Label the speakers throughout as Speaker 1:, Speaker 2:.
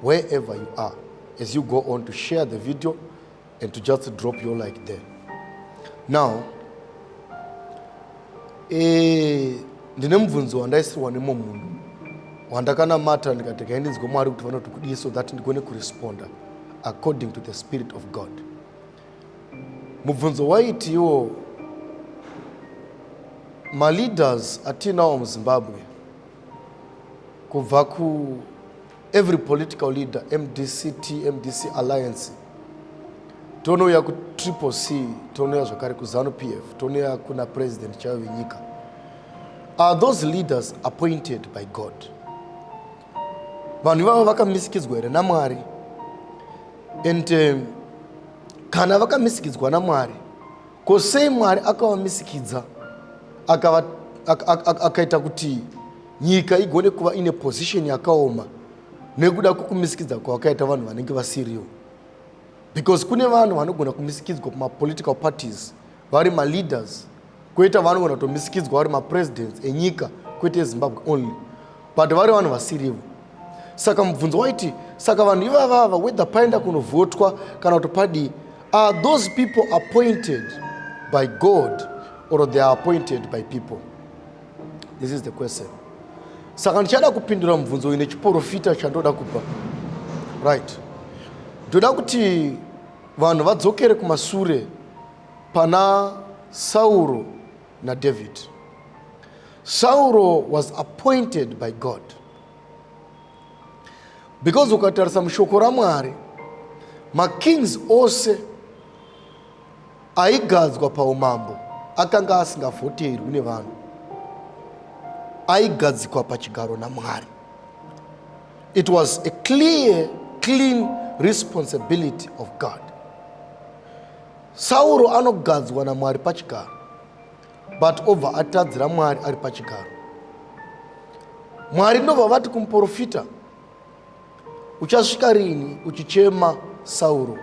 Speaker 1: Wherever you are, as you go on to share the video and to just drop your like there. Now, eh, ndine mubvunzo wandaisirwa nemwe munhu wandakanamata ndikati kaindinzwe mwari kuti vanoti kudii so that ndigone kuresponda according to the spirit of god mubvunzo waitiwo maleaders atiinawo muzimbabwe kubva ku Every political leader, MDCT, MDC Alliance, tonouya ku Triple C, tonouya zvakare ku Zanu PF, tonouya kuna President chaiyo venyika. Are those leaders appointed by God? Vanhu ivavo vakamisikidzwa here naMwari? And um, kana vakamisikidzwa naMwari, Ko sei Mwari akavamisikidza akava akaita kuti nyika igone kuva ine position yakaoma nekuda kwekumisikidza kwavakaita vanhu vanenge vasiriwo because kune vanhu vanogona kumisikidzwa kumapolitical parties vari maleaders kwoita vanogona kutomisikidzwa vari mapresidents enyika kwete ezimbabwe only but vari vanhu vasirivo saka mubvunzo waiti saka vanhu ivavava whether paenda kunovhotwa kana kuti padii are those people appointed by god or they are appointed by people this is the question saka ndichada kupindura mubvunzo uyu nechiporofita chandoda kubva right ndoda kuti vanhu vadzokere kumasure pana sauro naDavid. Sauro was appointed by God because ukatarisa mushoko raMwari makings ose aigadzwa paumambo akanga asingavhoterwi nevanhu aigadzikwa pachigaro namwari it was a clear clean responsibility of god Sauro anogadzwa naMwari pachigaro but obva atadzira Mwari ari pachigaro. Mwari ndobva vati kumuporofita, uchasvika rini uchichema Sauro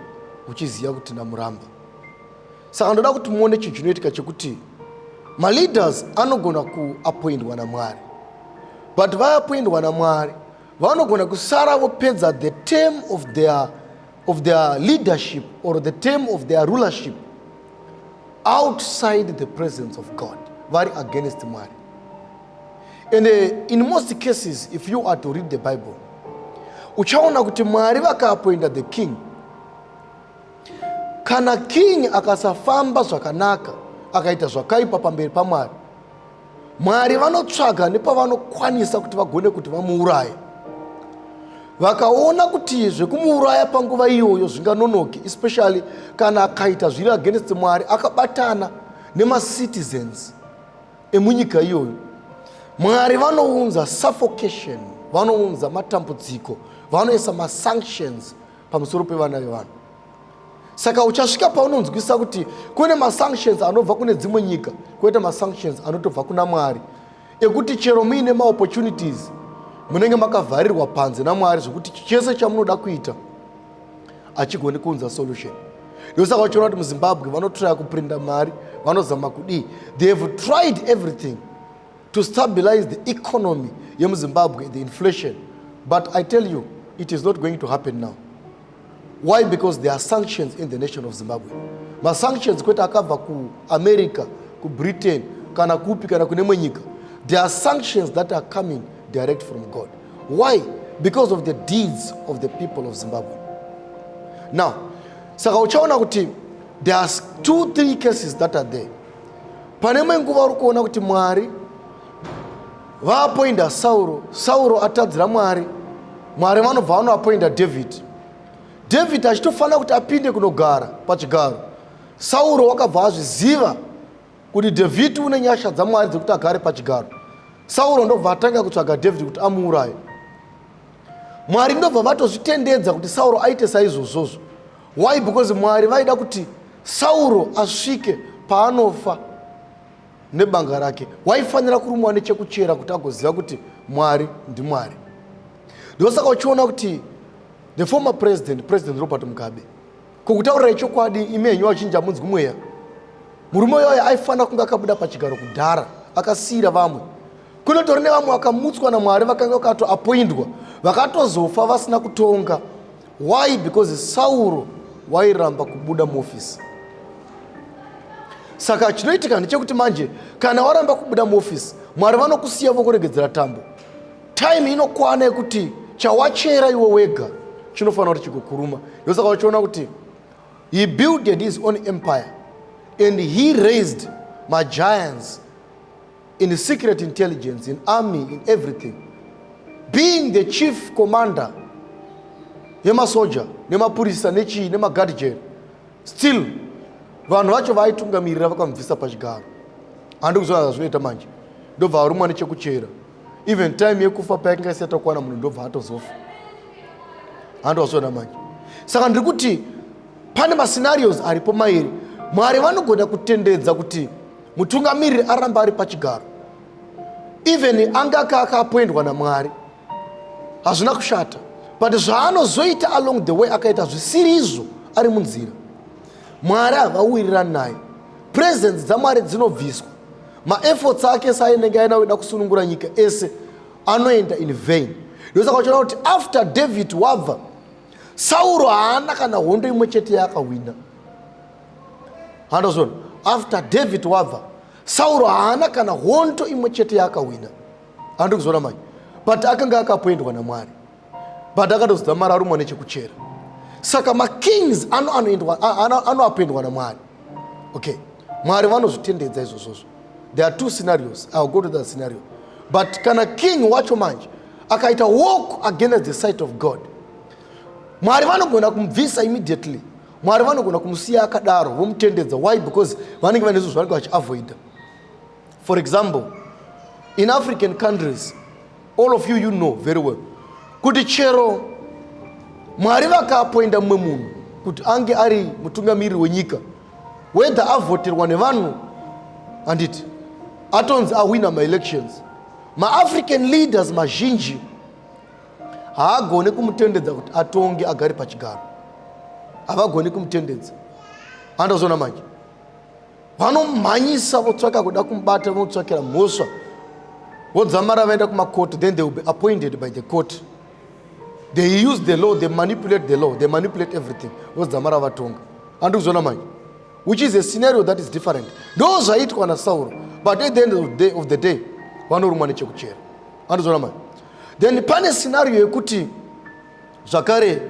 Speaker 1: uchiziva kuti ndamuramba? Saka ndoda kuti muone chinhu chinoitika chekuti maleaders anogona kuapoindwa naMwari but vaapoindwa naMwari vanogona kusara vopedza the term of their of their leadership or the term of their rulership outside the presence of God, very against Mary. And uh, in most cases, if you are to read the Bible, uchaona kuti mwari vakaapoinda the king kana king akasafamba zvakanaka akaita zvakaipa pamberi pamwari mwari vanotsvaga nepavanokwanisa kuti vagone kuti vamuuraye vakaona kuti zvekumuuraya panguva iyoyo zvinganonoki especially kana akaita zviri against mwari akabatana nemacitizens emunyika iyoyo mwari vanounza suffocation vanounza matambudziko vanoisa masanctions pamusoro pevana vevanhu saka uchasvika paunonzwisisa kuti kune masanctions anobva kune dzimwe nyika koita masanctions anotobva kuna mwari ekuti chero muine maopportunities munenge makavharirwa panze namwari zvekuti chese chamunoda kuita achigoni kuunza solution ndosaka uchiona kuti muzimbabwe vanotraya kuprinda mari vanozama kudii they have tried everything to stabilize the economy yemuzimbabwe the inflation but i tell you it is not going to happen now why because there are sanctions in the nation of zimbabwe masanctions kwete akabva kuamerica kubritain kana kupi kana kune mwe nyika there are sanctions that are coming direct from god why because of the deeds of the people of zimbabwe now saka uchaona kuti there are two three cases that are there pane mwe nguva uri kuona kuti mwari Vaapoinda Sauro, Sauro atadzira Mwari. Mwari vanobva vanoapoinda Dhavhidhi. Dhavhidhi achitofanira kuti apinde kunogara pachigaro. Sauro wakabva azviziva kuti Dhavhidhi une nyasha dzaMwari dzekuti agare pachigaro. Sauro ndobva atanga kutsvaga Dhavhidhi kuti amuuraye. Mwari ndobva vatozvitendedza kuti Sauro aite saizvozvozvo. Why? Because Mwari vaida kuti Sauro asvike paanofa. nebanga rake waifanira kurumwa nechekuchera kuti agoziva kuti mwari ndimwari ndosaka uchiona kuti the former president president robert mugabe kukutaurirai chokwadi imi henyu vachinja munzwi mweya murume uyoyo aifanira kunge akabuda pachigaro kudhara akasiyira vamwe kunotori nevamwe vakamutswa namwari vakanga vakatoapoindwa vakatozofa vasina kutonga why because sauro wairamba kubuda muofisi saka chinoitika ndechekuti manje kana waramba kubuda muofisi mwari vanokusiya vokuregedzera tambo time inokwana yekuti chawachera iwe wega chinofanira kuti chikukuruma ndosaka uchiona kuti he builded his own empire and he raised magiants in secret intelligence, in army, in everything. Being the chief commander yemasoja nemapurisa nechii nemaguard jail still vanhu vacho vaaitungamirira vakamubvisa pachigaro handi kuzoona zvazvinoita manje ndobva arumwa nechekuchera even time yekufa payakanga isati yakwana munhu ndobva atozofa handi wazviona manje saka ndiri kuti pane mascenarios aripo mairi mwari vanogona kutendedza kuti mutungamiriri aramba ari pachigaro even anga aka akapoendwa namwari hazvina kushata but zvaanozoita along the way akaita zvisiri izvo ari munzira mwari havawirirani naye presence dzamwari dzinobviswa maefforts ake saainenge aina kuda kusunungura nyika ese anoenda in vain ndosaka uchiona kuti after david wabva sauro haana kana hondo imwe chete yaakahwina handozviona after david wabva sauro haana kana honto imwe chete yaakahwina handi kuzoona manje but akanga akapoendwa namwari but akatozidza mari arumwa nechekuchera saka makings anoapoendwa namwari okay mwari vanozvitendedza izvozvozvo there are two scenarios ill go to that scenario but kana king wacho manje akaita walk against the sight of god mwari vanogona kumubvisa immediately mwari vanogona kumusiya akadaro vomutendedza why because vanenge vane zvinhu zvanenge vachiavoida for example in african countries all of you you know very well kuti chero mwari vakaapoinda mumwe munhu kuti ange ari mutungamiriri wenyika whether avoterwa nevanhu handiti atonzi ahwina maelections maafrican leaders mazhinji haagone kumutendedza kuti atonge agari pachigaro havagoni kumutendedza andazona manje vanomhanyisa votsvaka kuda kumubata votsvakira mhosva vodzamara vaenda kumacourt then they will be appointed by the court they use the law they manipulate the law they manipulate everything vodzamara vatonga handi kuzona manje which is a scenario that is different ndo zvaitwa nasauro but at the end of the day, of the day vanorumwa nechekuchera handi kuzona manje then pane scenario yekuti zvakare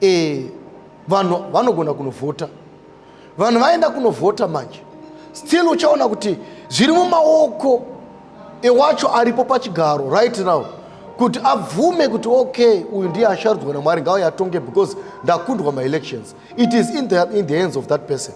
Speaker 1: eh, vanhu vanogona kunovhota vanhu vaenda kunovhota manje still uchaona kuti zviri mumaoko ewacho aripo pachigaro right now kuti abvume kuti okay uyu ndiye asharudzwa namwari ngauye atonge because ndakundwa maelections it is in the, in the hands of that person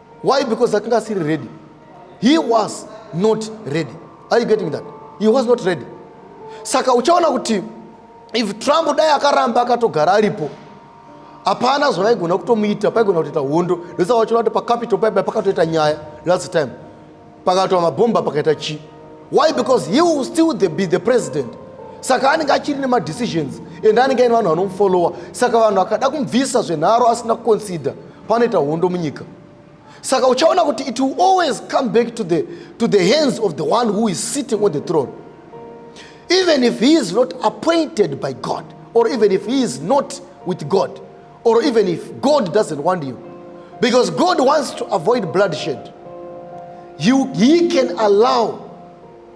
Speaker 1: Why? Because akanga asiri ready. He was not ready. Are you getting that? He was not ready. Saka uchaona kuti if Trump dai akaramba akatogara aripo hapana zvavaigona kutomuita paigona kutoita hondo ndosaka vachiona kuti pacapital paiba pakatoita nyaya last time pakatwa mabhomba pakaita chi why because he will still the, be the president saka anenge achiri nemadecisions and anenge aine vanhu vanomufollowa saka vanhu akada kumubvisa zvenharo asina kuconsider panoita hondo munyika saka uchaona kuti it will always come back to the, to the hands of the one who is sitting on the throne even if he is not appointed by god or even if he is not with god or even if God doesn't want you, because God wants to avoid bloodshed, you, He can allow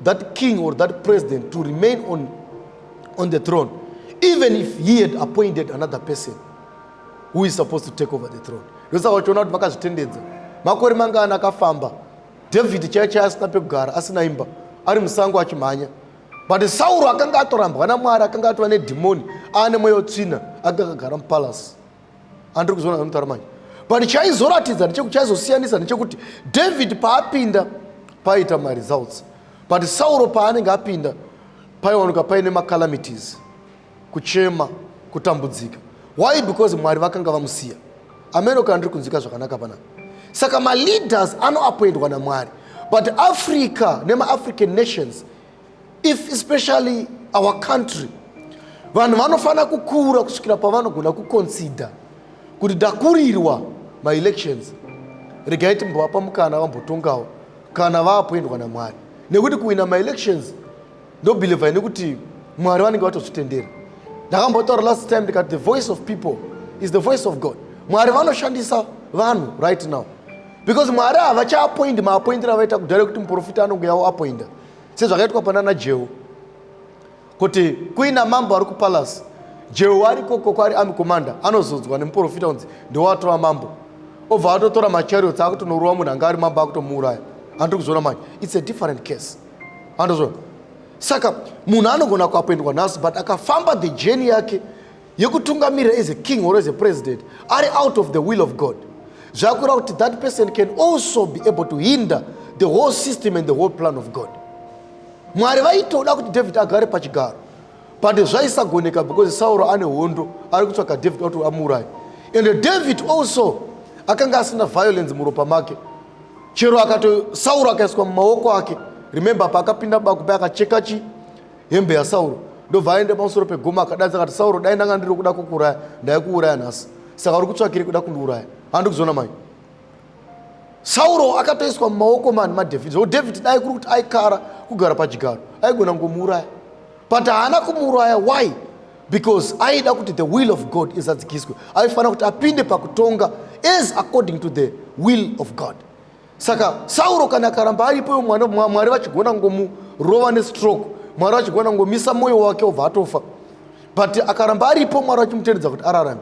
Speaker 1: that king or that president to remain on, on the throne, even if he had appointed another person who is supposed to take over the throne. ndosaka uchiona kuti vakazvitendedza makore mangana akafamba david chaiye chaiye asina pekugara asina imba ari musango achimhanya but sauro akanga atorambwa namwari akanga atova nedhimoni aane mweya wetsvina anga akagara mupalasi andiri kuzoona zvanotara manje but chaizoratidza ndechekuti chaizosiyanisa ndechekuti david paapinda paiita maresults but sauro paanenge apinda paiwanika paine macalamities kuchema kutambudzika why because mwari vakanga vamusiya ameno kana ndiri kunzwika zvakanaka panapa saka maleaders anoapoindwa namwari but africa nemaafrican nations if especially our country vanhu vanofanira kukura kusvikira pavanogona kuconsider kuti dakurirwa maelections regai timbovapa mukana vambotongawo kana vaapoindwa namwari nekuti kuwina maelections ndobeliva ini kuti mwari vanenge vatozvitendera ndakambotaura last time ndikati the voice of people is the voice of god mwari vanoshandisa vanhu right now because mwari havachaapoindi maapoindira avaita kudhara ekuti muprofita anonge yavo apoinda sezvakaitwa panana jehu kuti kuina mambo ari kupalasi jehu ari koko kwari ami komanda anozodzwa nemuprofita unzi ndewaatova mambo obva atotora machariots akutonoruwa munhu anga ari mambo akutomuuraya andiri kuzviona manje its a different case andozvo saka munhu anogona kuapendwa nhasi but akafamba the journey yake yekutungamirira as a king or as a president ari out of the will of god zvakureva kuti that person can also be able to hinder the whole system and the whole plan of god mwari vaitoda kuti david agare pachigaro but zvaisagoneka because sauro ane hondo ari kutsvaga david kuti amuuraye and david also akanga asina violence muropa make chero akato sauro akaiswa mumaoko ake remember paakapinda bakupe akacheka chi hembe yasauro ndobva aende pamusoro pegoma akadanza akati sauro dai ndanga ndiri kuda kukuuraya ndaikuuraya nhasi saka uri kutsvakire kuda kundiuraya handi kuzoona mai sauro akatoiswa mumaoko mani madhavhidhi zvekuti dhavhidhi dai kuri kuti aikara kugara pachigaro aigona kungomuuraya but haana kumuuraya why because aida kuti the will of god izadzikiswe aifanira kuti apinde pakutonga as according to the will of god saka sauro kana akaramba aripoyo mwana mwari vachigona kungomurova nestroke mwari vachigona kungomisa mwoyo wake obva atofa but akaramba aripo mwari vachimutendedza kuti ararame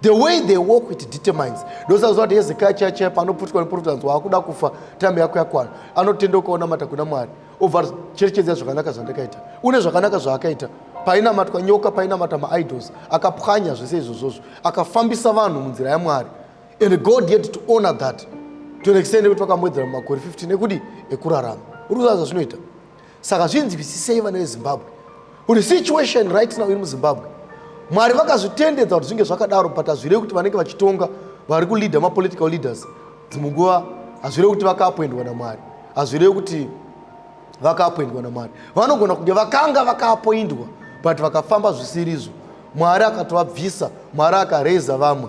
Speaker 1: The way they walk it determines. Ndosazowa kuti Hezekiah chaya chaya paanoputwa neprofita anzwa akuda kufa time yako yakwana. Anotenda ukaonamata kuna Mwari. Obva cherechedza zvakanaka zvandakaita. Une zvakanaka zvaakaita. Painamatwa nyoka, painamata maidols, akapwanya zvese izvozvozvo. Akafambisa vanhu munzira yaMwari. And God yet to honor that. To an extent yekuti vakamwedzera mumakore 15 ekudi ekurarama. Uri kuzaza zvinoita. saka zvinzwisisei vana vezimbabwe kuti situation right now iri muzimbabwe mwari vakazvitendedza kuti zvinge zvakadaro but hazvirei kuti vanenge vachitonga vari kuleader mapolitical leaders dzimwe nguva hazvirei kuti vakaapwendwa namwari hazvirei kuti vakaapwendwa namwari vanogona kunge vakanga vakaapwendwa but vakafamba zvisirizvo mwari akatovabvisa mwari akareza vamwe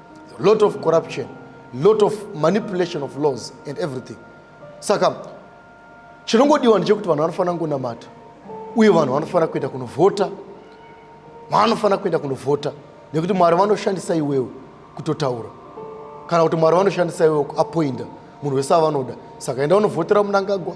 Speaker 1: lot of corruption lot of manipulation of laws and everything saka chinongodiwa ndechekuti vanhu vanofanira kungonamata uye vanhu vanofanira kuenda kunovhota vanofanira kuenda kunovhota nekuti mwari vanoshandisa iwewe kutotaura kana kuti mwari vanoshandisa iwewe kuapoinda munhu wese avanoda saka enda unovhotera munangagwa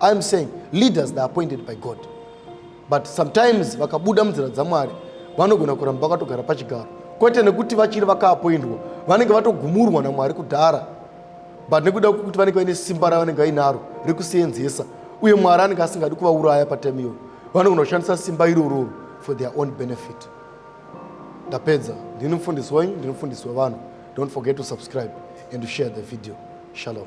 Speaker 1: I'm saying leaders they are appointed by God but sometimes vakabuda munzira dzaMwari vanogona kuramba vakatogara pachigaro kwete nekuti vachiri vakaapoindwa vanenge vatogumurwa naMwari kudhara but nekuda kwekuti vanenge vaine simba ravanenge vainaro rekuseenzesa uye Mwari anenge asingadi kuvauraya patime iyoyo vanogona kushandisa simba irororo for their own benefit ndapedza ndini mufundisi wenyu ndini mufundisi wevanhu don't forget to subscribe and to share the video shalom